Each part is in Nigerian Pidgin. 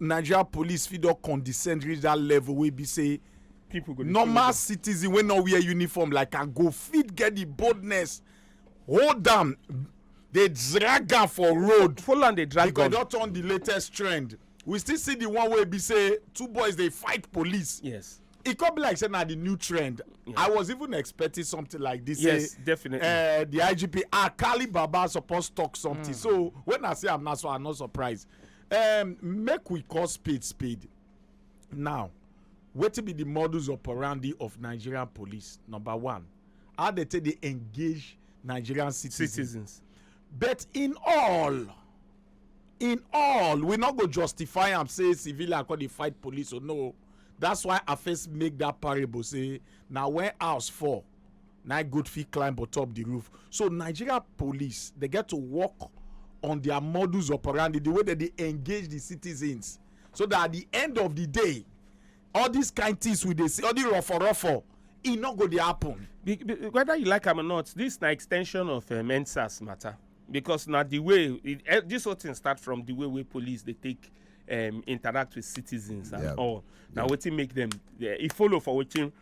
Nigeria police fit don condescend reach that level wey be say people go dey follow normal them. citizen wey no wear uniform like am go fit get the boldness hold am dey drag am for road follow am dey drag because e gun don turn the latest trend we still see the one wey be say two boys dey fight police yes e come be like say na the new trend i was even expecting something like this Yes, say, definitely. eh, the igp akali baba suppose talk something so when i see am now so i'm not surprised um make we call spade spade now wetin be the modus operandi of nigerian police number one how they take dey engage nigerian citizens citizens but in all in all we no go justify am say civilian come dey fight police o no that's why i first make that parable say na when house fall na goat fit climb on top the roof so nigeria police dey get to work on their modus operandi the way dem dey engage the citizens so that at the end of the day all these kind things we dey see all the ruffle ruffle e no go dey happen. Be- be- whether you like am or not this na extension of um, ensars matter because na the way it, eh, this whole thing start from the way wey police dey take um, interact with citizens and Yeah. all na wetin make them eh, e follow for wetin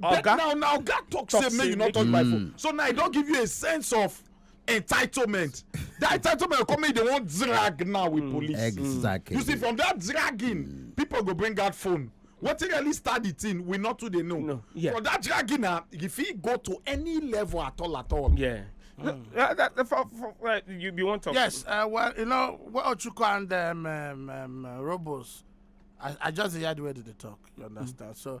but now now oga talk say make you not touch my phone so now i don give you a sense of entitlement that entitlement come make they wan drag now with mm. police exactly you see from that dragging mm. people go bring out phone wetin really start the thing we not too dey know no, yeah. for that dragging na e fit go to any level at all at all. Yeah. Mm. Uh, that, that, for, for, uh, you, you want to yes uh, well you know well chuku and um, um, um, robos I, I just hear the way they talk you understand mm. so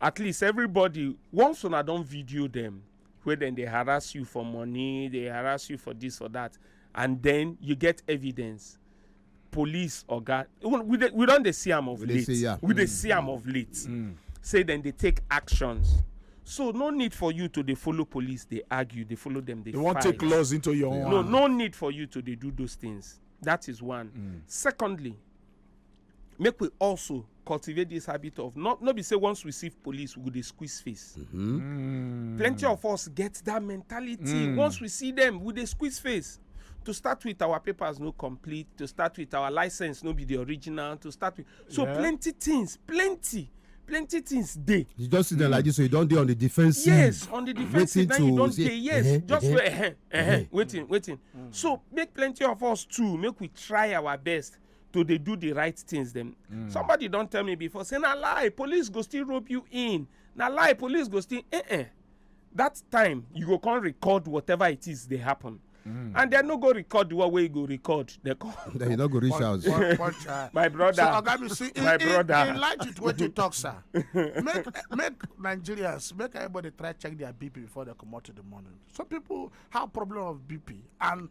at least everybody once una don video dem wey dem dey harass you for money dey harass you for this for that and then you get evidence police oga even we dey we don dey see am of We dey late see am. we dey see am of late say dem dey take actions so no need for you to dey follow police dey argue dey follow dem dey They won't fight take laws into your own. no hand. no need for you to dey do those things that is one secondly make we also cultivate this habit of not not be say once we see police we go dey squeeze face. Mm -hmm. mm. plenty of us get that mentality mm. once we see them we dey squeeze face to start with our papers no complete to start with our license no be the original to start with so yeah. plenty things plenty plenty things dey. you just sit there like this so you don dey on the defensive. yes on the defensive now you don dey yes uh -huh, just uh -huh, wait uh -huh, uh -huh, waiting waiting mm. so make plenty of us too make we try our best to dey do the right things dem mm. somebody don tell me before say na lie police go still rope you in na lie police go still eh eh that time you go come record whatever it is dey happen Mm. and dem no go record the one wey you go record dem come. then you no go reach house. Uh, my brother so oga mi see my brother in light with wetin you talk sir make make nigerians make everybody try check their bp before they comot in the morning some people have problem of bp and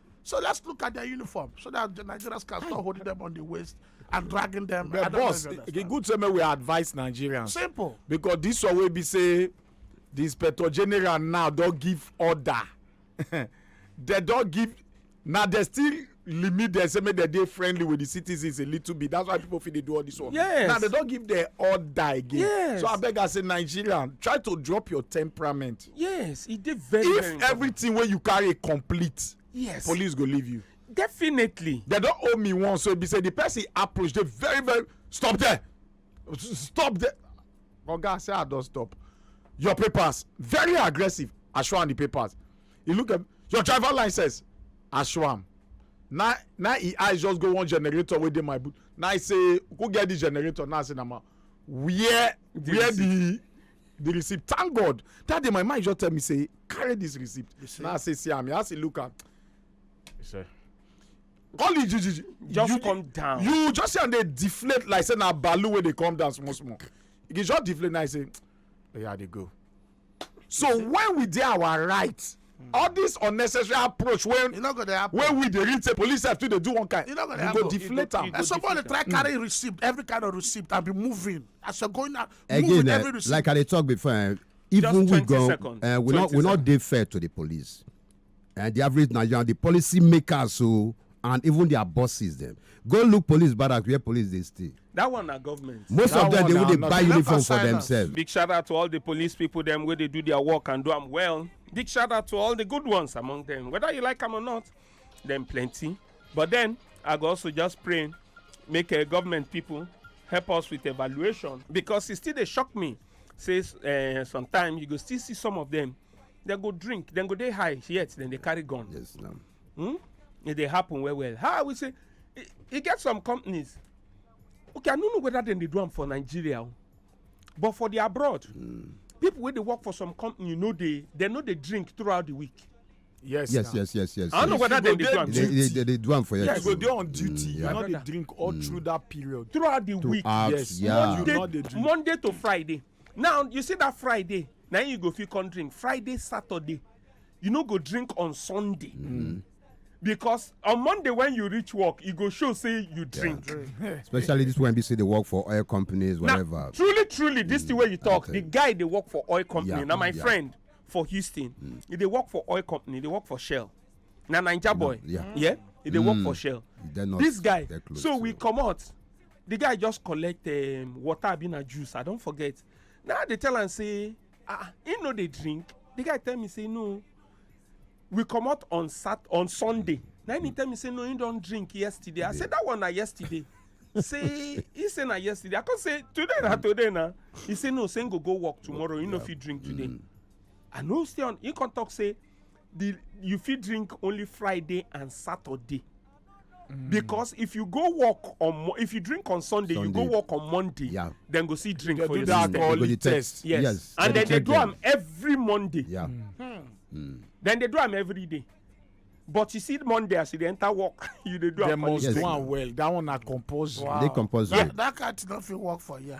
So let's look at their uniform so that the Nigerians can stop holding them on the waist and dragging them. But boss, the good same we advise Nigerians. Simple. Because this one will be say the inspector general now don't give order. they don't give now they still limit dem say make dem dey friendly with the citizens a little bit that's why people fit dey do all this one. yes now they don give their order again. yes so abeg as a nigerian try to drop your temperament yes e dey very very if important everything wey you carry complete yes police go leave you definitely they don owe me one so e be say the person approach dey very very stop there S- stop there oga say i don stop your papers very aggressive i show am the papers he look at your driver license i show am na na e eyes just go one generator wey dey my boot na i say who get the generator na i say na ma where where the the receipt thank god that day my mind just tell me say carry this receipt now i say see am i say look am call it you, you, just you, come down you just see am dey deflate like say na balloon wey dey come down small small e just deflate now i say oya oh, i dey go so when we dey our right all this unnecessary approach wey e no go dey happen wey we dey read say police sef too dey do one kind e no go dey happen go deflate am. and somebody try hmm. carry receipt every kind of receipt and be moving as you're going out again moving eh, every receipt. like i dey talk before eh, even we go eh, we no we no dey fair to the police and the average nigerian the policy makers o. Oh, and even their bosses dem go look police barrack where police dey stay that one na government most that of them dey even dey buy uniform for themselves big shout out to all the police people dem wey dey do their work and do am well big shout out to all the good ones among them whether you like am or not dem plenty but then i go also just pray make uh, government people help us with evaluation because e still dey shock me say uh, sometimes you go still see some of them dem go drink dem go dey high yet dem dey carry gun. yes, no. hmm? e dey happen well well how we say e, e get some companies okay i no know whether dem dey do am for nigeria o but for the abroad mm. people wey dey work for some company you know dey dem no dey drink throughout the week yes yes now. yes yes yes i don't know whether they do am they they they do am for yes go dey on duty mm, you no dey drink all mm. through that period throughout the week yes monday monday to friday now you see that friday na you go fit come drink friday saturday you no go drink on sunday mm-hmm. because on monday when you reach work e go show say you drink especially this one be say dey work for oil companies whatever truly truly this thing wey you mm, talk the guy dey work for oil company na my friend for houston mm. e dey work for oil company e dey work for shell na naija boy yeah e dey work for mm. shell this guy so we comot the guy just collect um, water abi na juice i don forget now i dey tell am say ah he no dey drink the guy tell me say no we comot on sat on sunday na him tell me say no he don drink yesterday i say that one na yesterday say he say na yesterday i come say today na today na he say no say him go go work tomorrow he no fit drink today mm. i no stay on he come talk say the you fit drink only friday and saturday Mm. because if you go work on if you drink on sunday, sunday. you go work on monday yeah. then go see drink they for your system they go the test yes, yes. and then they do them every monday yeah. Mm. Hmm. Mm. then they do them every day but you see monday as you dey enter work you dey do am for the day. yes. well that one na compulsory. wow they compulsory. Yeah. that card no fit work for here.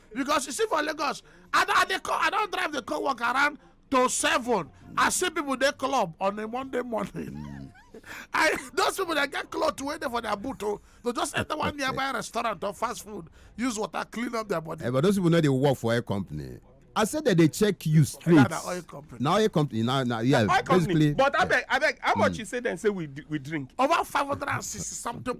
because you see for lagos i don i dey come i don drive dey come work around to seven i see people dey club on a monday morning i those people dey get cloth wey dey for their boot o oh, to just enter one nearby restaurant or fast food use water clean up their body. Hey, eh, but those people no dey work for oil company. I said that they check you straight. Now the oil company. Now oil company. Now, now yeah. Oil basically. Company. But I beg, I beg. How much mm. you say then? Say we we drink. Over five hundred and sixty something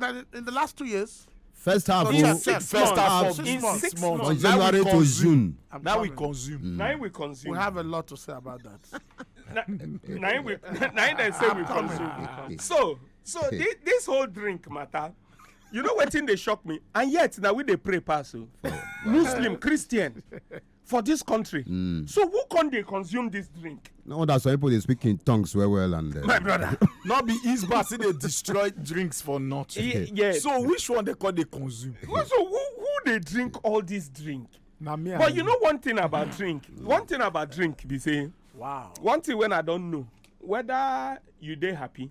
Uh, in the last two years. First half, oh, in six, first half of six, months. six months. From January to June. I'm now coming. we consume. Mm. Now we consume. We have a lot to say about that. now we now they say we consume. So so this, this whole drink matter you know wetin dey shock me and yet na we dey pray pass o oh. muslim christian for this country mm. so who can they consume this drink no wonder some people they speak in tongues well well and uh, my brother not be east bar say they destroy drinks for nothing yeah, yeah. so which one they call they consume so who who they drink all this drink na me but you know one thing about drink one thing about drink be say wow one thing when i don't know whether you dey happy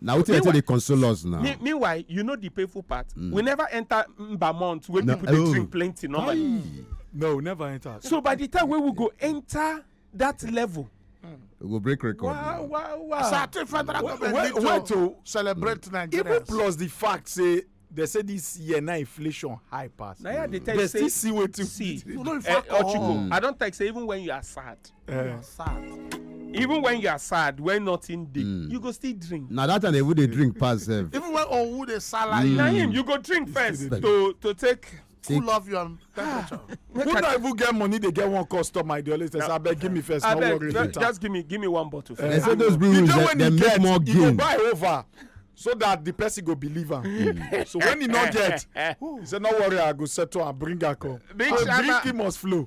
na wetin wetin dey console us now meanwhile you know the painful part mm. we never enter mbamont wey people dey oh. drink plenty normally no we never enter so by the time wey we go enter that level we go break record wow wow wow certain federal government need to celebrate mm. nigeria even plus the fact say they say this year na inflation high pass. na yeah, they tell you say they still see wetin. see eh, ochiko i don talk say even when you are sad. Uh, you are eh. sad even when you are sad when nothing dey mm. you go still drink na that time even dey drink pass sef even when owu dey salary na him you go drink first to to take who love you and temperature. who no even get money dey get one customer dey always say abeg give me first no worry later. just give me give me one bottle. Uh, so those brew rooms dey make more gain. you go buy over so that the person go believe am hmm. so when he no get he say no worry i go settle am bring am come big shama big must flow.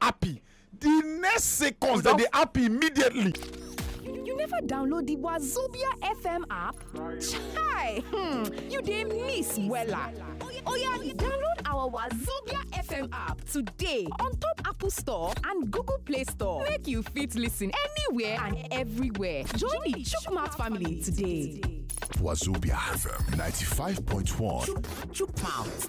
happy the next seconds dem dey happy immediately. You never download the Wazobia FM app? Chai! Hmm, you dey miss wella. Oya, download our Wazobia FM app today on top Apple Store and Google Play Store. Make you fit listen anywhere and everywhere. Join the Chukmat family today. Wazobia FM 95.1. Chukmouth.